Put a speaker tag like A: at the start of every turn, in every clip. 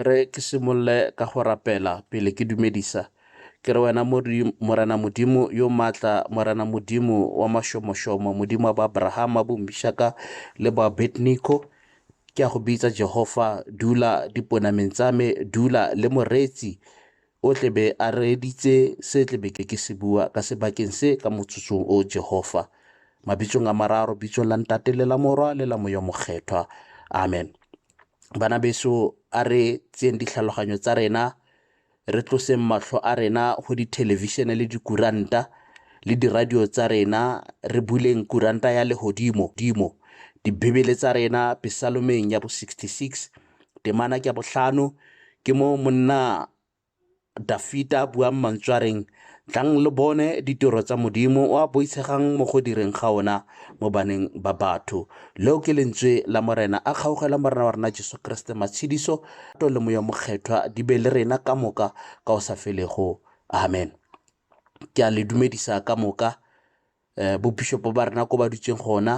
A: Re ke simolole ka go rapela pele ke dumedisa. Ke re wena Morena Modimo yo maatla, Morena Modimo wa mašomošomo, Modimo wa ba Abrahama, bo Mishaka le ba Abednego, ke a go bitsa Jehova, dula diponameng tsa me, dula le moreetsi O tle be a reeditse se tle be ke ke se bua ka sebakeng se ka motsotsong o, Jehova. Mabitsong a mararo, bitsong la Ntate le la Morwa le la Moya Mokgethwa. Amen. Bana beso, a re tseyeng ditlhaloganyo tsa rena re tloseng matlho a rena go dithelebišene le dikuranta le diradio tsa rena re buleng kuranta ya legodimo dimo dibebele tsa rena pesalomeng ya bo 66 Temana ke ya botlhano, ke mo monna Dafita a buang mantswe a reng, Tlang lo bone ditiro tsa Modimo o a boitshegang mo go direng ga ona mo baneng ba batho. Leo ke lentswe la Morena a kgaogela Morena wa rena Jesu Keresete matshediso to le moya mokgethwa di be le rena ka moka ka o sa felego. Amen. Ke a le dumedisa ka moka eh, bobishopo ba rena ko ba dutseng gona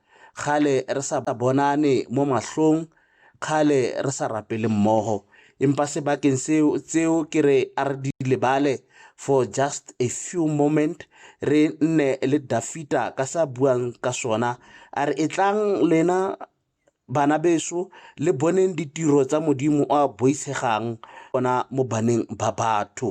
A: Kgale re sa bonane mo mahlong, kgale re sa rapele mmogo. Empa sebakeng seo, tseo ke re a re di lebale for just a few moment, re nne le Dafita ka sa buang ka sona. A re etlang lena bana beso le boneng ditiro tsa modimo o a boitshegang ona mo baneng ba batho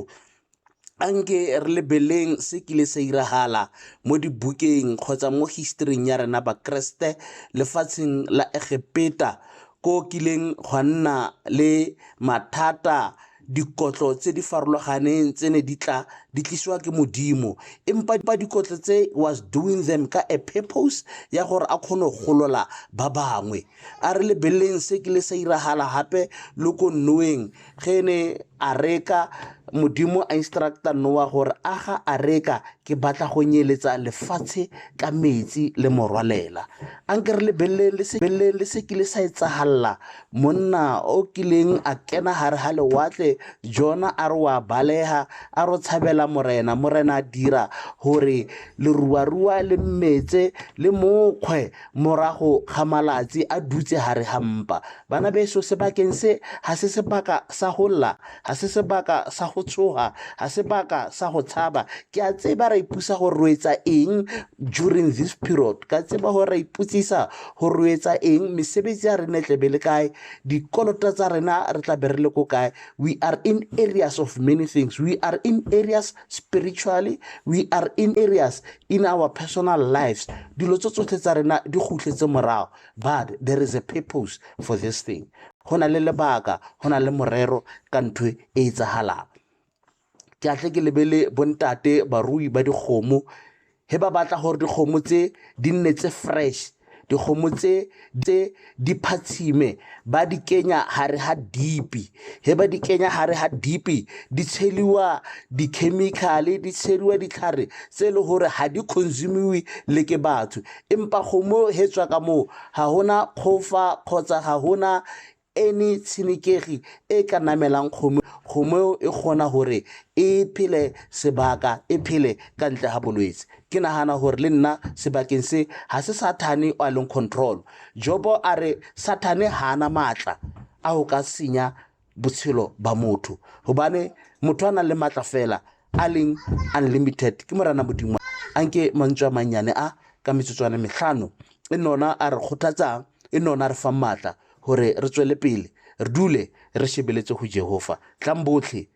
A: a nke re lebeleng se kile sa iragala mo dibukeng kgotsa mo historing ya rena bakeresete lefatsheng la egepeta ko kileng gwa nna le mathata dikotlo tse di farologaneng tse ne di tla di tlisiwa ke modimo empa ba dikotlo tse was doing them ka a purpose ya gore a kgone go golola ba bangwe A re lebeleleng se kile sa iragala gape lo ko Noweng ge ne areka Modimo a instructa Nowa gore aga areka ke batla go nyeletsa lefatshe ka metsi le morwalela. A nke re lebeleleng le se, lebeleleng le se kile sa etsagalela monna o kileng a kena gare ga lewatle Jona a re wa balega a ro tshabela Morena. Morena a dira gore leruarua le mmetse le mokgwe Morago ga malatsi a dutse gare ga mpa, banabeso, sebakeng se, ga se sebaka sa go lla, ga se sebaka sa go tshoga, ga sebaka sa go tshaba. Ke a tseba ra ipusa gore roetsa eng during this period, ka tseba gore ra iputsisa gore roetsa eng, mesebetsi ya rena e tlabe le kae, dikolota tsa rena re tlabe re le ko kae. We are in areas of many things, we are in areas spiritually we are in areas in our personal lives dilo tse tsotlhe tsa rena di gutletse morago but there is a purpose for this thing go na le lebaka go na le morero ka ntho e e tsagalang ke atle ke lebele bontate barui ba dikgomo he ba batla gore dikgomo tse di nne tse fresh dikgomo tse tse di phatshime ba di kenya gare ga dipi he ba di kenya gare ga dipi di tsheliwa di-chemical-e di tsheliwa ditlhare tse e le gore ga di consumiwe le ke batho empa kgomo he tswa ka moo ga gona kgofa kgotsa ga gona Any tshenekegi e e ka namelang kgomo, kgomo eo e kgona gore e phele sebaka, e phele ka ntle ga bolwetse. Ke nagana gore le nna sebakeng se ga se Sathane o a leng control. Jobo a re Sathane ga ana maatla a go ka senya botshelo ba motho gobane motho a nang le maatla fela a leng unlimited ke Morena Modimo. A nke mantswe a mannyane a ka metsotswana metlhano e nona a re kgothatsang e nne ona a re fang maatla gore re tswele pele re dule re shebeletse go Jehofa. Tlang botlhe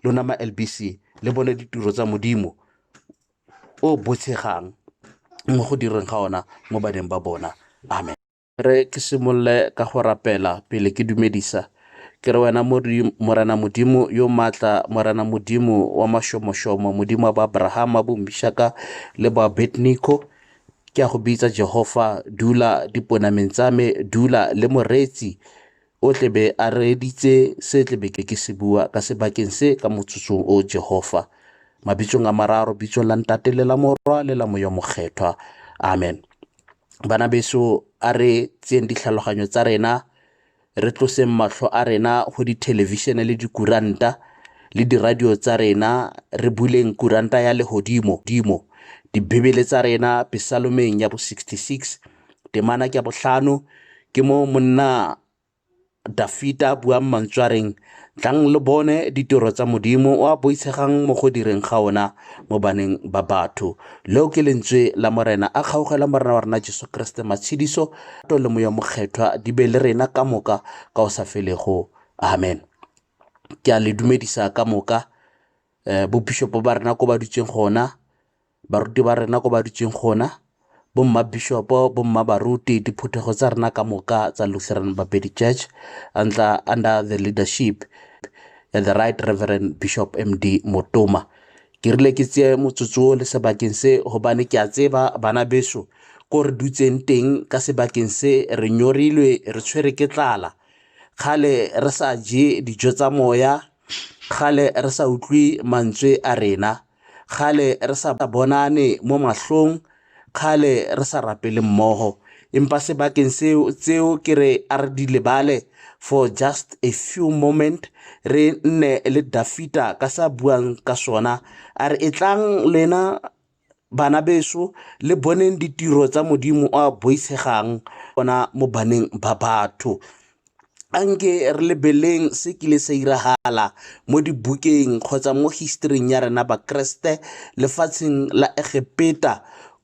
A: lona ma LBC le bone ditiro tsa Modimo o botshegang mo go direng ga ona mo baneng ba bona. Amen. Re ke simolole ka go rapela pele ke dumedisa ke re wena morena modimo yo maatla morena modimo wa mašomošomo modimo wa ba abrahama bo mishaka le ba abednico ke a go bitsa Jehofa, dula diponameng tsa me, dula le moreetsi o tlebe a reeditse se tlebe ke ke se bua ka sebakeng se ka motsotsong o Jehofa. Mabitsong a mararo, bitsong la ntate le la morwa le la moyo mokgethwa. Amen. Bana beso a re tseyeng ditlhaloganyo tsa rena re tloseng matlho a rena go dithelevishene le dikuranta le diradio tsa rena re buleng kuranta ya legodimo dimo dibebele tsa rena pesalomeng ya bo 66 temana ke botlhano ke mo monna dafita buang mantswareng Tlang lo bone ditiro tsa Modimo o a boitshegang mo go direng ga ona mo baneng ba batho. Leo ke lentswe la Morena a kgaogela Morena wa rena Jesu Keresete matshediso to le moya mokgethwa di be le rena ka moka ka o sa felego. Amen. Ke a le dumedisa ka moka eh, bopishopo ba rena ko ba dutseng gona baruti ba rena ko ba dutseng gona, bommabishopo, bommabaruti, diphuthego tsa rena ka moka tsa Lutheran Bapedi Church under, under the leadership ya the right Reverend Bishop MD Motoma. Ke rile ke tseye motsotso o le sebakeng se gobane ke a tseba bana beso ko re dutseng teng ka sebakeng se re nyorilwe re tshwere ke tlala kgale re sa je dijo tsa moya kgale re sa utlwe mantswe a rena Kgale re sa bonane mo mahlong, kgale re sa rapele mmogo. Empa sebakeng seo tseo ke re a re di lebale for just a few moment re nne le dafita ka sa buang ka sona a re e tlang lena bana beso le boneng ditiro tsa modimo a boitshegang ona mo baneng ba batho a nke re lebeleng se kile sa iragala mo dibukeng kgotsa mo historing ya rena bakeresete lefatsheng la egepeta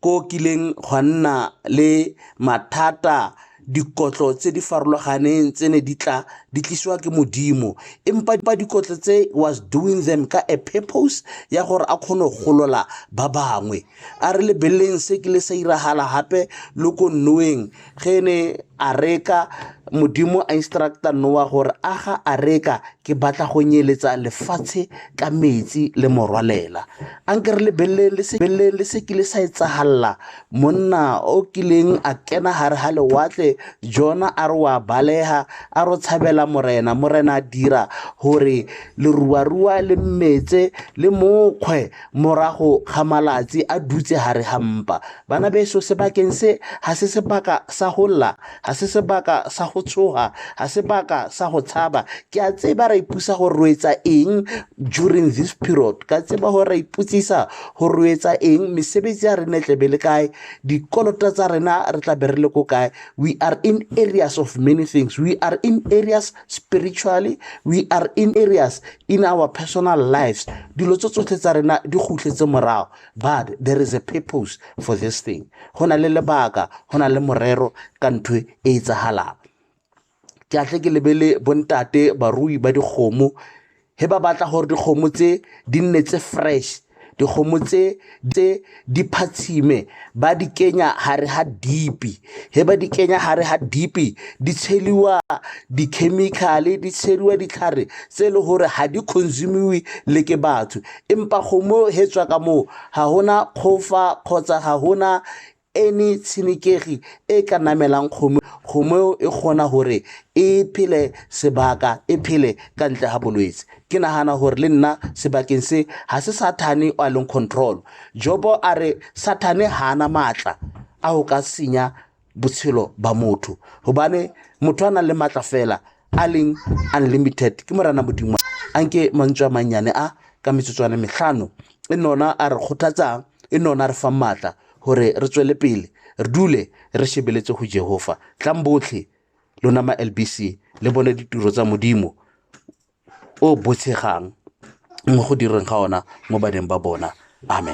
A: ko kileng gwa nna le mathata dikotlo tse di farologaneng tse ne di tla di tlisiwa ke modimo empa dipa dikotlo tse was doing them ka a purpose ya gore a kgone go golola ba bangwe a re lebeleleng se kile sa iragala gape le ko nnoweng ge ne a reka modimo a instructa noa gore a ga a reka ke batla go nyeletsa lefatshe ka metsi le morwalela a nke re lebeleleng le se kile sa etsagalela monna o kileng a kena gare ga lewatle jona a re wa balega a ro tshabela morena morena a dira gore leruarua le mmetse le mokgwe morago ga malatsi a dutse gare ga mpa. Bana beso, sebakeng se ga se sebaka sa go lla, ga se sebaka sa go tshoga, ga sebaka sa go tshaba. Ke a tseba ra ipusa go roetsa eng during this period, ka tseba gore ra iputsisa go roetsa eng, mesebetsi ya rene tlebe le kae, dikolota tsa rena re tla be re le ko kae. We are in areas of many things, we are in areas spiritually we are in areas in our personal lives dilo tse tsotlhe tsa rena di gutletse morago but there is a purpose for this thing go na le lebaka go na le morero ka ntho e e tsagalang ke atle ke lebele bontate barui ba dikgomo he ba batla gore dikgomo tse di nne tse fresh dikgomo tse tse di phatshime ba di kenya gare ga dipi he ba di kenya gare ga dipi di tsheliwa di-chemical-e di tsheliwa ditlhare tse e le gore ga di consumiwe le ke batho empa kgomo he tswa ka moo ga gona kgofa kgotsa ga gona Any tshenekegi e e ka namelang kgomo, kgomo eo e kgona gore e phele sebaka, e phele ka ntle ga bolwetse. Ke nagana gore le nna sebakeng se ga se Sathane o a leng control. Jobo a re Sathane ga ana maatla a go ka senya botshelo ba motho gobane motho a nang le maatla fela a leng unlimited ke morana modimo a nke mantswe a mannyane a ka metsotswane metlhano e nona a re kgothatsang e nona a re fang maatla gore re tswele pele re dule re shebeletse go jehofa tlang botlhe lona ma lbc le bone ditiro tsa modimo o botshegang mo go direng ga ona mo baneng ba bona amen